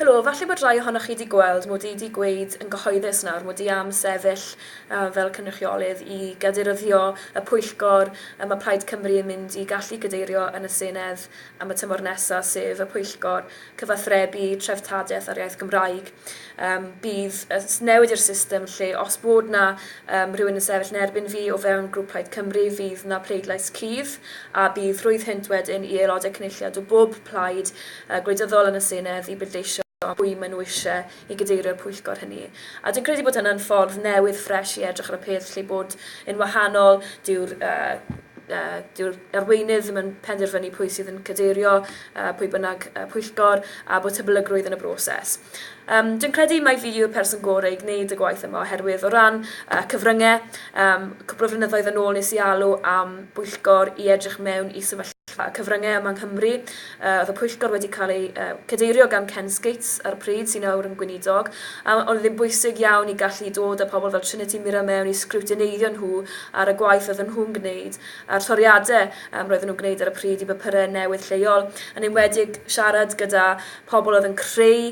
Helo, falle bod rhai ohonoch chi 'di gweld mod i 'di gweud yn gyhoeddus nawr mod i am sefyll fel cynrychiolydd i gadeiryddio y pwyllgor y mae Plaid Cymru yn mynd i gallu cadeirio yn y Senedd am y tymor nesa', sef y pwyllgor cyfathrebu treftadaeth a'r iaith Gymraeg. Yym, bydd y newid i'r system lle os bod 'na yym rhywun yn sefyll yn erbyn fi o fewn grŵp Plaid Cymru fydd 'na pleidlais cudd a bydd rhwydd hynt wedyn i aelodau cynulliad o bob plaid gwleidyddol yn y Senedd i bleidleisio am pwy maen nhw eisiau i gadeirio'r pwyllgor hynny. A dwi'n credu bod hynna'n ffordd newydd, ffresh i edrych ar y peth, lle bod yn wahanol, dyw'r dyw'r arweinydd ddim yn penderfynu pwy sydd yn cadeirio pwy bynnag pwyllgor, a bod hyblygrwydd yn y broses. Um, dwi'n credu mai fi yw'r person gorau i gwneud y gwaith yma oherwydd o ran uh, cyfryngau, um, cwbl o flynyddoedd yn ôl nes i alw am bwyllgor i edrych mewn i sefyllfa cyfryngau yma yng Nghymru Oedd y pwyllgor wedi cael ei cadeirio gan Ken Skates ar y pryd, sy'n awr yn Gweinidog, a oedd ddim bwysig iawn i gallu dod â pobl fel Trinity Mirror mewn i sgriwtineiddio nhw ar y gwaith oedden nhw'n gwneud a'r toriadau roedden nhw'n gwneud ar y pryd i bapurau newydd lleol, yn enwedig siarad gyda pobl oedd yn creu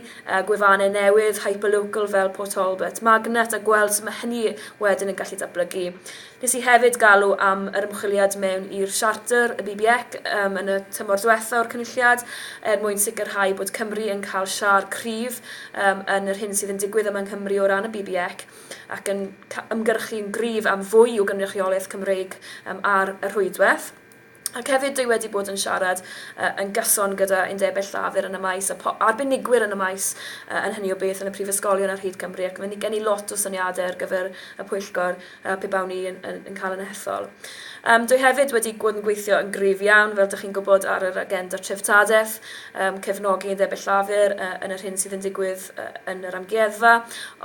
gwefannau newydd, hyperlocal fel Port Talbot, Magnet a gweld sut mae hynny wedyn yn gallu datblygu. Nes i hefyd galw am yr ymchwiliad mewn i'r siarter y BBEC yym yn y tymor diwetha' o'r Cynulliad er mwyn sicrhau bod Cymru yn cael siâr cryf yym yn yr hyn sydd yn digwydd yma yng Nghymru o ran y BBEC ac yn ca- ymgyrchu'n gryf am fwy o gynrychiolaeth Cymreig yym ar y rhwydwaith. Ac hefyd dwi wedi bod yn siarad yy yn gyson gyda undebau llafur yn y maes a po- arbenigwyr yn y maes yy yn hynny o beth yn y prifysgolion ar hyd Cymru ac mae ni gen i lot o syniadau ar gyfer y pwyllgor yy pe bawn i yn yn yn cael yn hethol. Yym dwi hefyd wedi gwod yn gweithio yn gryf iawn fel dych chi'n gwybod ar yr agenda treftadaeth yym cefnogi undebau llafur yy yn yr hyn sydd yn digwydd yy yn yr amgueddfa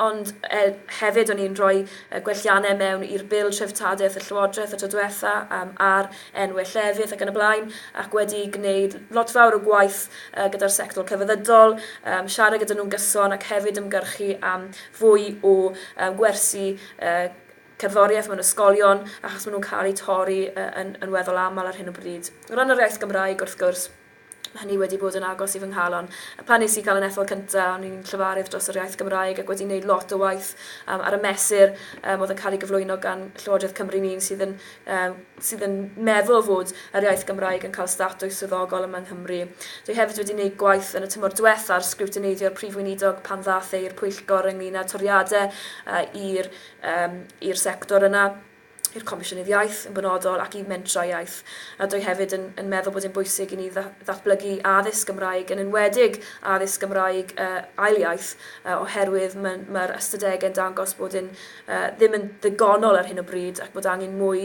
ond e- hefyd o'n i'n rhoi y gwelliannau mewn i'r Bil Treftadaeth y Llywodraeth y tro diwetha, yym, ar enwau llefydd ac yn y blaen, ac wedi gwneud lot fawr o gwaith yy gyda'r sector celfyddydol, yym, siarad gyda nhw'n gyson ac hefyd ymgyrchu am fwy o yym, gwersi yy, cerddoriaeth mewn ysgolion, achos maen nhw'n cael eu torri yy yn yn weddol aml ar hyn o bryd. O ran yr iaith Gymraeg, wrth gwrs, hynny wedi bod yn agos i fy nghalon. A phan nes i gael yn ethol cynta, o'n i'n llefarydd dros yr iaith Gymraeg ac wedi neud lot o waith yym ar y mesur yym oedd yn cael ei gyflwyno gan Llywodraeth Cymru ni'n sydd yn yym sydd yn meddwl fod yr iaith Gymraeg yn cael statws swyddogol yma yng Nghymru. Dwi hefyd wedi neud gwaith yn y tymor diwetha ar sgriwtineiddio Prif Weinidog pan ddath e i'r pwyllgor ynglyn â toriade yy i'r yym i'r sector yna. i'r Comisiynydd Iaith yn benodol ac i Mentrau Iaith. Rydw i hefyd yn yn meddwl bod e'n bwysig i ni dda- ddatblygu addysg Gymraeg, yn enwedig addysg Gymraeg yy ail iaith, yy oherwydd ma' ma'r ystadegau yn dangos bod e'n yy ddim yn ddigonol ar hyn o bryd ac bod angen mwy.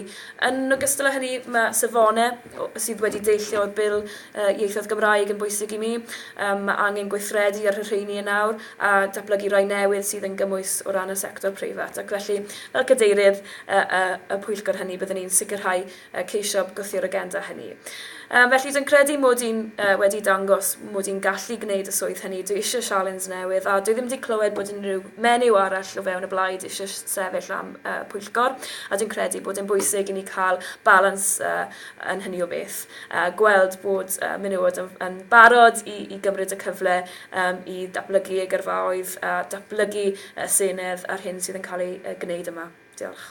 Yn ogystal â hynny, ma' safonau o- sydd wedi deillio o'r Bil yy Ieithoedd Gymraeg yn bwysig i mi. Yym ma' angen gweithredu ar y rheini yn awr. a datblygu rhai newydd sydd yn gymwys o ran y sector preifat, ac felly, fel cadeirydd y pwyllgor hynny, byddwn ni'n sicrhau ceisio gwthio'r agenda hynny. Felly, dwi'n credu mod i'n wedi dangos mod i'n gallu gwneud y swydd hynny, dwi eisiau sialens newydd, a dwi ddim wedi clywed bod unrhyw menyw arall o fewn y blaid eisiau sefyll am pwyllgor, a dwi'n credu bod e'n bwysig i ni cael balans yn hynny o beth, a gweld bod menywod yn barod i gymryd y cyfle i ddatblygu eu gyrfaoedd a datblygu y senedd a'r hyn sydd yn cael ei gwneud yma. Diolch.